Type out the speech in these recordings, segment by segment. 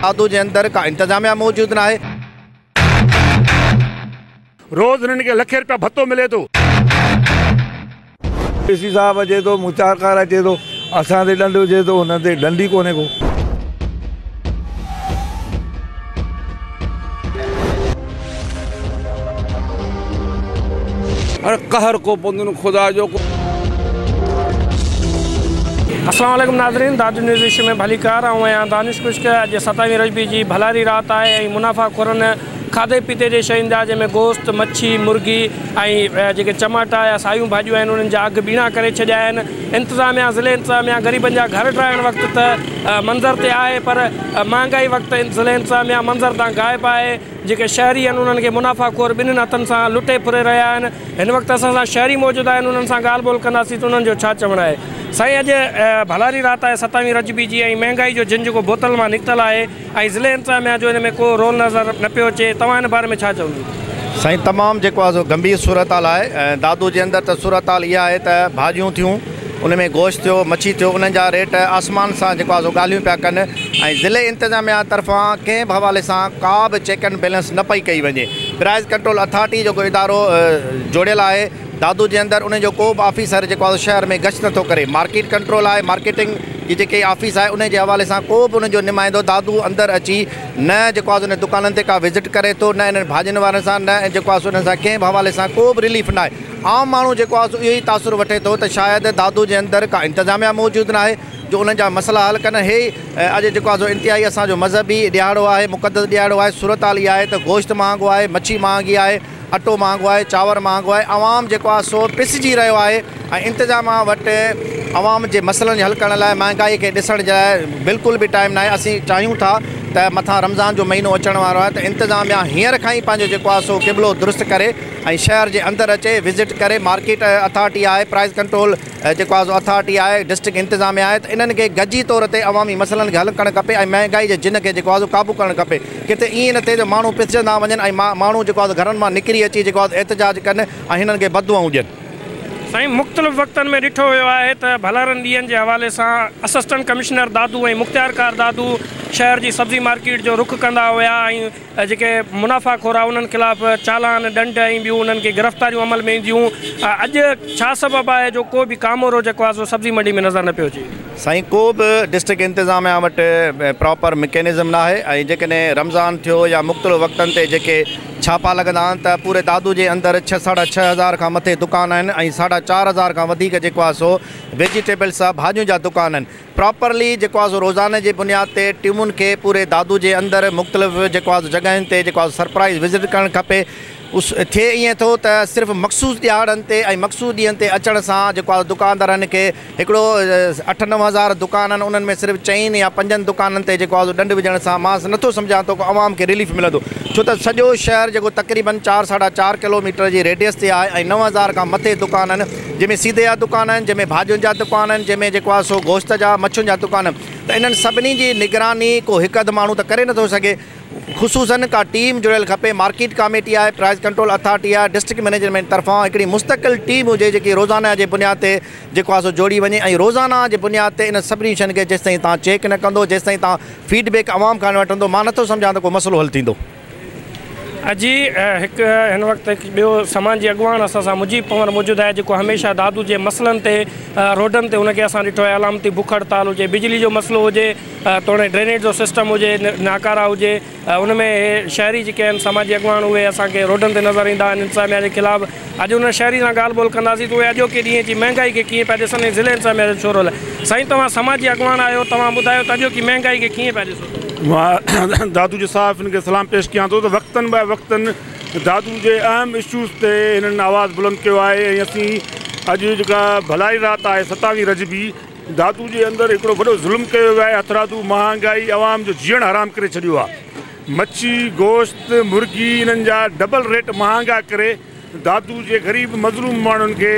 کاڌو جي اندر ڪا انتظاميا موجود ناهي. روز هنن کي لکين رپيا ڀتو ملي ٿو. ڊي سي صاحب اچي ٿو مون چار ڪارا چي ٿو اسان تي ڏنڊ وجهي ٿو هنن تي ڏنڊ ئي ڪونهي ڪو. اڙي قهر ڪو پوندن خدا جو ڪو. السلام عليڪم ناظرين دادو نيوز ايشيا ۾ ڀليڪار آئون آهيان دانش خشڪ اڄ ستائيهين رجبي جي ڀلاري رات آهي ۽ منافعه خورن کاڌي پيتي جي شين جا جنهن ۾ گوشت مڇي مرغي ۽ جيڪي چماٽا يا سايون ڀاڄيون آهن انهن جا اگهه ٻيڻا ڪري ڇڏيا آهن انتظاميا ضلعي انتظاميا غريبن جا گهر ٽراهڻ وقت ته منظر تي آهي پر مهانگائي وقت ضلعي انتظاميا منظر تان غائب آهي جيڪي شهري آهن انهن کي منافع خور ٻنهن هٿن سان لٽي ڦري رهيا آهن هن وقت اسان سان شهري موجود آهن انهن سان ڳالهه ٻولهه ڪنداسين ته انهن جو ڇا چوڻ آهي سائين اڄ ڀلاري رات آهي ستاوي رجبي جي ۽ مهانگائي جو جنج جيڪو بوتل مان نڪتل آهي ۽ ضلعي انتظاميا جو ان ۾ ڪو رول نظر نه پيو اچي توهان ان باري ۾ ڇا چوندو. سائين تمام جيڪو آهي سو گنڀير صورتحال آهي ۽ دادو جي اندر ته صورتحال اها آهي ته ڀاڄيون ٿيون ان ۾ گوشت ٿيو مڇي ٿيو انهن جا ريٽ آسمان سان جيڪو آهي سو ڳالهيون پيا ڪن ۽ ضلعي انتظاميا طرفان ڪنهن به حوالي سان ڪا به چيڪ اينڊ بيلنس نه پئي ڪئي وڃي پرائز ڪنٽرول اٿارٽي جيڪو ادارو جوڙيل آهي دادو جي اندر انهي جو ڪو به آفيسر جيڪو آهي شهر ۾ گشت نٿو ڪري مارڪيٽ ڪنٽرول آهي مارڪيٽنگ جي جيڪي آفيس آهي انهي جي حوالي سان ڪو به انهن جو نمائندو دادو اندر اچي نه جيڪو آهي انهن دڪانن تي ڪا وزٽ ڪري ٿو نه انهن ڀاڄين وارن سان نه جيڪو آهي انهن سان ڪنهن به حوالي سان ڪو به رليف ناهي عام ماڻهو جيڪو آهي اهو ئي تاثر وٺي ٿو ته شايد دادو جي اندر ڪا انتظاميا موجود ناهي جو انهن جا مسئلا حل ڪن هي اڄ جيڪو آهي انتهائي اسان جو مذهبي ڏهاڙو آهي مقدس ڏهاڙو آهي صورتحال اها آهي ته گوشت مهانگو آهي مڇي مهانگي آهي اٽو مهانگو آهي، چانور مهانگو آهي، عوام جيڪو آهي سو پسجي رهيو آهي ۽ انتظاميا وٽ عوام جي مسئلن کي حل ڪرڻ لاء مهانگائي کي ڏسڻ جي لاء بلڪل به ٽائيم ناهي، اسين چاهيون ٿا ته مٿان رمضان جو مهينو اچڻ وارو آهي ته انتظاميا هينئر کان ئي پنهنجو جيڪو آهي سو قبلو درست ڪري ۽ شهر جي اندر اچي وزٽ ڪري مارڪيٽ اٿارٽي آهي پرائز ڪنٽرول جيڪو آهي سو اٿارٽي آهي ڊسٽرڪٽ انتظاميا آهي ته انهن کي گڏجي طور تي عوامي مسئلن کي حل ڪرڻ کپي ۽ مهانگائي جي جن کي جيڪو آهي سو قابو ڪرڻ کپي. ڪٿي ائين نه ٿئي جو ماڻهو پسجندا وڃن ۽ ماڻهو جيڪو آهي گهرن مان نڪري اچي جيڪو آهي احتجاج ڪن ۽ هنن کي بددعائون ڏين. سائين مختلف وقتن ۾ ڏٺو ويو آهي ته ڀلارن ڏينهن جي حوالي سان اسسٽنٽ ڪمشنر دادو ۽ مختيارڪار دادو شهر جي سبزي مارڪيٽ جو رخ ڪندا هيا ۽ جيڪي منافع خور آهي انهن خلاف چالان ڏنڊ ۽ ٻيون انهن کي گرفتاريون عمل ۾ اينديون اڄ ڇا سبب آهي جو ڪو به ڪامورو جيڪو آهي سو سبزي منڊي ۾ نظر نه پيو اچي. سائين ڪو به ڊسٽرڪٽ انتظاميا وٽ پراپر مڪينزم ناهي ۽ جيڪڏهن رمضان ٿيو يا مختلف وقتن تي جيڪي ڇاپا لڳندا آهن ته پوري دادو جي اندر ڇهه ساڍا ڇهه هزار کان مٿي دڪان آهن ۽ ساڍا چار هزار کان وڌيڪ جيڪو آهي سو ويجيٽيبلس ڀاڄيون جا دڪان آهن پراپرلي جيڪو آهي سو روزاني جي بنياد تي ٽيمن کي پوري دادو جي اندر مختلف جيڪو آهي سو جڳهين تي جيڪو آهي سو سرپرائز وزٽ ڪرڻ کپي اس ٿئي ائين ٿو ته صرف مخصوص ڏيهاڙن تي ۽ مخصوص ڏينهن تي اچڻ سان جيڪو آ دڪاندارن کي هڪڙو اٺ نو هزار دڪان آهن انهن ۾ صرف چئن يا پنجن دڪانن تي جيڪو آ ڏنڊ وجهڻ سان مان نٿو سمجهان ته ڪو عوام کي رليف ملندو ڇو ته سڄو شهر جيڪو تقريبن چار ساڍا چار ڪلوميٽر جي ريڊيس تي آهي ۽ نو هزار کان مٿي دڪان آهن جنهن ۾ سيدي جا دڪان آهن جنهن ۾ ڀاڄين جا دڪان آهن جنهن ۾ جيڪو آ سو گوشت جا مڇين جا دڪان ته انهن سڀني جي نگراني ڪو هڪ اڌ ماڻهو ته ڪري نٿو سگهي. خصوصن ڪا ٽيم جڙيل کپي مارڪيٽ ڪاميٽي آهي پرائز ڪنٽرول اٿارٽي آهي ڊسٽرڪٽ مينيجرمينٽ طرفان هڪڙي مستقل ٽيم هجي جيڪي روزانه جي بنياد تي جيڪو آهي سو جوڙي وڃي ۽ روزانه جي بنياد تي انهن سڀني شين کي جيستائين توهان چيڪ نه ڪندو جيستائين توهان فيڊ بيڪ عوام کان نه وٺندو مان نٿو سمجهان ته ڪو مسئلو حل ٿيندو. اڄي هڪ هن وقت هڪ ٻيو سماجي اڳواڻ اسان سان مجيب پنور موجود آهي جيڪو هميشه دادو جي مسئلن تي روڊن تي هن کي اسان ڏٺو آهي علامتي بک هڙتال هجي بجلي جو مسئلو هجي توڻي ڊرينيج جو سسٽم هجي، ناڪارا هجي، ان ۾ اهي شهري جيڪي آهن سماجي اڳواڻ اهي اسان کي روڊن تي نظر ايندا آهن انتظاميا جي خلاف اڄ انهن شهري سان ڳالهه ٻولهه ڪنداسين ته اهي اڄوڪي ڏينهن جي مهنگائي کي ڪيئن پيا ڏسن ۽ ضلعي انتظاميا جو ڇو رول آهي سائين توهان سماجي اڳواڻ آهيو توهان ٻڌايو ته اڄوڪي مهنگائي کي ڪيئن پيا ڏسو. مان دادوجي صاحب کي سلام پيش ڪيان ٿو ته وقتن بعد وقتن دادو جي اهم اشوز تي هنن آواز بلند ڪيو آهي ۽ اسين اڄ جيڪا ڀلائي رات آهي ستاوي رجبي دادو جي اندر هڪڙو وڏو ظلم ڪيو ويو آهي هٿرادو مهانگائي عوام جو جيئڻ حرام ڪري ڇڏيو آهي مڇي گوشت مرغي انهن جا ڊبل ريٽ مهانگا ڪري دادو جي غريب مظلوم ماڻهن کي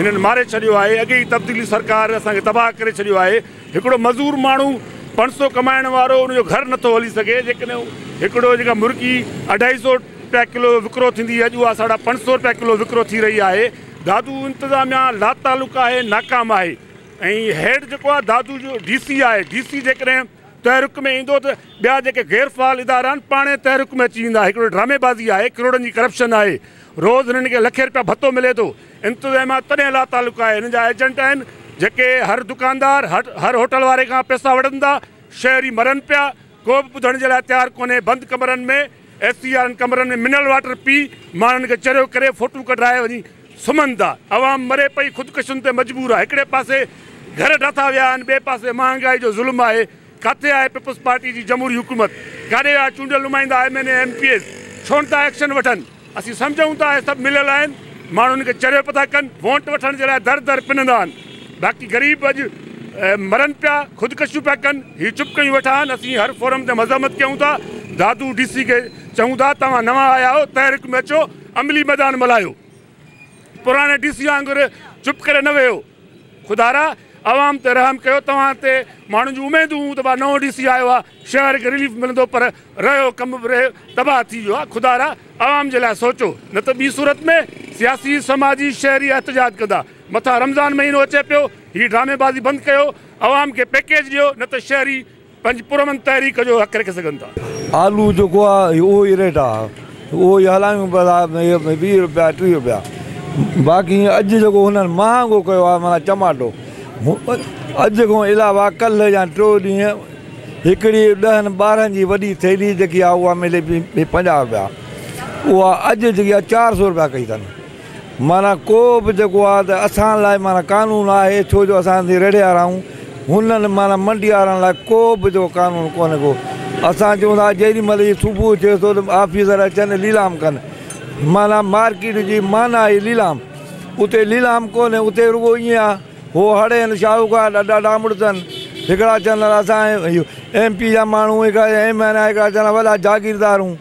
هنن ماري ڇڏيو آهي اڳي ئي تبديلي سرڪار اسان کي تباهه ڪري ڇڏيو آهي هڪڙو مزور ماڻهو پنج سئو ڪمائڻ وارو ان جو گهر نٿو هلي سگهي جيڪڏهن هڪڙو جيڪا مرغي اڍائي سئو رپيا ڪلو وڪرو ٿيندي اڄ اها ساڍا پنج سئو رپيا ڪلو وڪرو ٿي رهي آهي دادو انتظاميا لاتعلق آهي ناڪام آهي ۽ هيڊ جيڪو آهي دادو جو ڊي سي آهي ڊي سي جيڪڏهن تحرڪ ۾ ايندو ته ٻيا جيڪي غير فعال ادارا آهن پاڻهي تحرڪ ۾ اچي ويندا هڪڙو ڊرامي بازي آهي ڪروڙن جي ڪرپشن آهي روز هنن کي لکين رپيا ڀتو ملي ٿو انتظاميا تڏهن لاتعلق آهي هنن جا ايجنٽ آهن جيڪي هر دڪاندار هر هوٽل واري کان پئسا وٺن ٿا شهري مرن پيا ڪو به ٻڌڻ جي لاء تيار ڪونهي بند ڪمرن ۾ اي سي وارن ڪمرن ۾ منرل واٽر پي ماڻهن کي چريو ڪري ڦوٽون ڪڍرائي وڃي سمهن ٿا عوام مري پئي خودڪشن تي مجبور آهي هڪڙي پاسي گهر ڊاٿا ويا آهن ٻئي پاسي مهانگائي جو ظلم آهي ڪاٿي آهي پيپلز پارٽي جي جمهوري حڪومت ڪاڏي ويا چونڊيل نمائندا M N A M P As ڇونٿا ايڪشن وٺن. اسين سمجهون ٿا اهي سڀ مليل آهن، ماڻهن کي چريو پيا ٿا ڪن، وونٽ وٺڻ جي لاء در در پنندا آهن، باقي غريب اڄ مرن پيا، خودڪشيون پيا ڪن، هي چپ ڪيون ويٺا آهن، اسين هر فورم تي مذمت ڪيون ٿا، دادو ڊي سي کي چئون ٿا توهان نوان آيا آهيو تحرڪ ۾ اچو عملي ميدان ملهايو، پراڻي ڊي سي وانگر چپ ڪري نه ويهو. خدارا! عوام تي رحم ڪيو، توهان تي ماڻهن جون اميدون هون ته وا نئون ڊي سي آيو آ، شهر کي رليف ملندو پر رهيو ڪم به رهي تباهه ٿي ويو آ، خدارا! عوام جي لاء سوچو، نه ته ٻي صورت ۾ سياسي، سماجي، شهري احتجاج ڪندا، مٿان رمضان مهينو اچي پيو، هي ڊرامي بازي بند ڪيو، عوام کي پيڪيج ڏيو، نه ته شهري. پنهنجي پرامن تحريڪ جو حق رکي سگهن ٿا. آلو جيڪو آ اهو ئي ريٽ آ اهو ئي هلايون پيا ويهه روپيا ٽيهه روپيا باقي اڄ جيڪو هنن مهانگو ڪيو آ معنيٰ چماٽو اڄ کان علاوه ڪلهه يا ٽيو ڏينهن هڪڙي ڏهن ٻارهن جي وڏي ٿيلهي جيڪي آ اها ملي پئي پنجاهه روپيا اها اڄ جيڪي آ چار سو روپيا ڪئي اٿن. معنيٰ ڪو به جيڪو آهي ته اسان لاء معنيٰ قانون آهي ڇو جو اسان سندي رڙهيار آهيون هنن معنيٰ منڊيارن لاء ڪو به جيڪو قانون ڪونهي ڪو اسان چون ٿا جيڏي مهل هي صبح ٿئي ٿو ته آفيسر اچن ليلام ڪن معنيٰ مارڪيٽ جي معنيٰ آهي ليلام اتي ليلام ڪونهي اتي رڳو ائين آهي هو هڙ آهن شاهوڪار ڏاڍا ڊامڙ اٿن هڪڙا چون ٿا اسان ايم پي جا ماڻهون هڪڙا ايم اين اي هڪڙا چون ٿا وڏا جاگيردار آهيون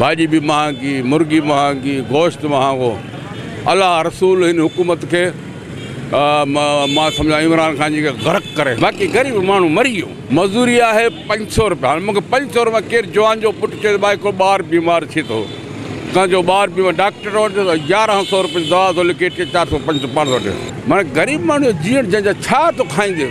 ڀاڄي به مهانگي، مرغي مهانگي، گوشت مهانگو، الله رسول هن حڪومت کي مان سمجهان عمران خان جي کي غرق ڪري باقي غريب ماڻهو مري ويو مزوري آهي پنج سو روپيا هاڻي مونکي پنج سو روپيا ڪير جوان جو پٽ چئي ڀائي ڪو ٻار بيمار ٿي ٿو ڪنهن جو ٻار بيمار ڊاڪٽر وٽ يارهن سو روپيا دوا ٿو لکي ٽي چار سو پنج سو پانچ سو وٺي مانا غريب ماڻهو جيئڻ جنهن جا ڇا ٿو کائيندي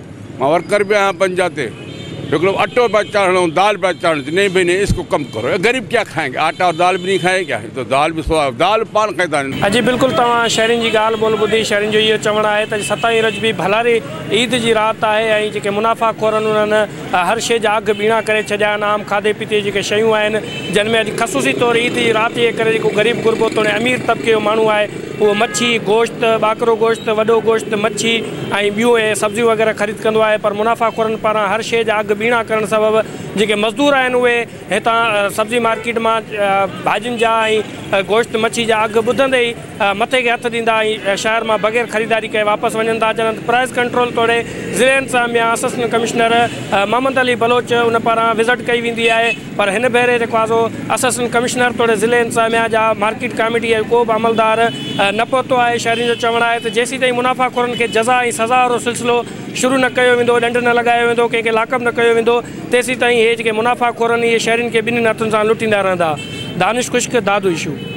مان ورڪر به آهيان پنجا تي هڪڙو اٽو پيا چاڙهڻ ۽ دال پيا چاڙهڻ چي نهين ڀئي نهين اس ڪو ڪم ڪرو اي غريب ڪيا کائين گي آٽا اور دال به نهين کائين گي هي تو دال به سوائي دال پان کائين ٿا نهين. اجي بلڪل توهان شهرين جي ڳالهه ٻولهه ٻڌي شهرين جو اهو چوڻ آهي ته اڄ ستائين رجبي ڀلاري عيد جي رات آهي ۽ جيڪي منافعه خورن انهن هر شي جا اگهه ٻيڻا ڪري ڇڏيا آهن عام کاڌي پيتي جي جيڪي شيون آهن جن ۾ اڄ خصوصي طور عيد جي رات جي ڪري جيڪو غريب غربو توڙي امير طبقي جو ماڻهو آهي هو مڇي، گوشت، ٻاڪرو گوشت، وڏو گوشت، مڇي ۽ ٻيون ۽ سبزيون وغيره خريد ڪندو آهي پر منافع خورن پاران هر شيء جا اگهه ٻيڻا ڪرڻ سبب جيڪي مزدور آهن اهي هتان سبزي مارڪيٽ مان ڀاڄين جا ۽ گوشت مڇي جا اگهه ٻڌندي ئي مٿي کي هٿ ڏيندا ۽ شهر مان بغير خريداري ڪئي واپس وڃن ٿا جڏهن پرائز ڪنٽرول توڙي ضلعي انتظاميه اسسٽنٽ ڪمشنر محمد علي بلوچ ان پاران وزٽ ڪئي ويندي آهي پر هن ڀيري جيڪو آزو اسسٽنٽ ڪمشنر توڙي ضلعي انتظاميا جا مارڪيٽ ڪاميٽي جو ڪو به عملدار نه پهتو آهي شهرين جو چوڻ آهي ته جيسين تائين منافع خورن کي جزا ۽ سزا وارو سلسلو شروع نه ڪيو ويندو ڏنڊ نه لڳايو ويندو ڪنهن کي لاڪپ نه ڪيو ويندو تيسين تائين اهي جيڪي منافع خورن اهي شهرين کي ٻنهين هٿن سان لٽيندا رهندا دانش خشڪ دادوئيشو.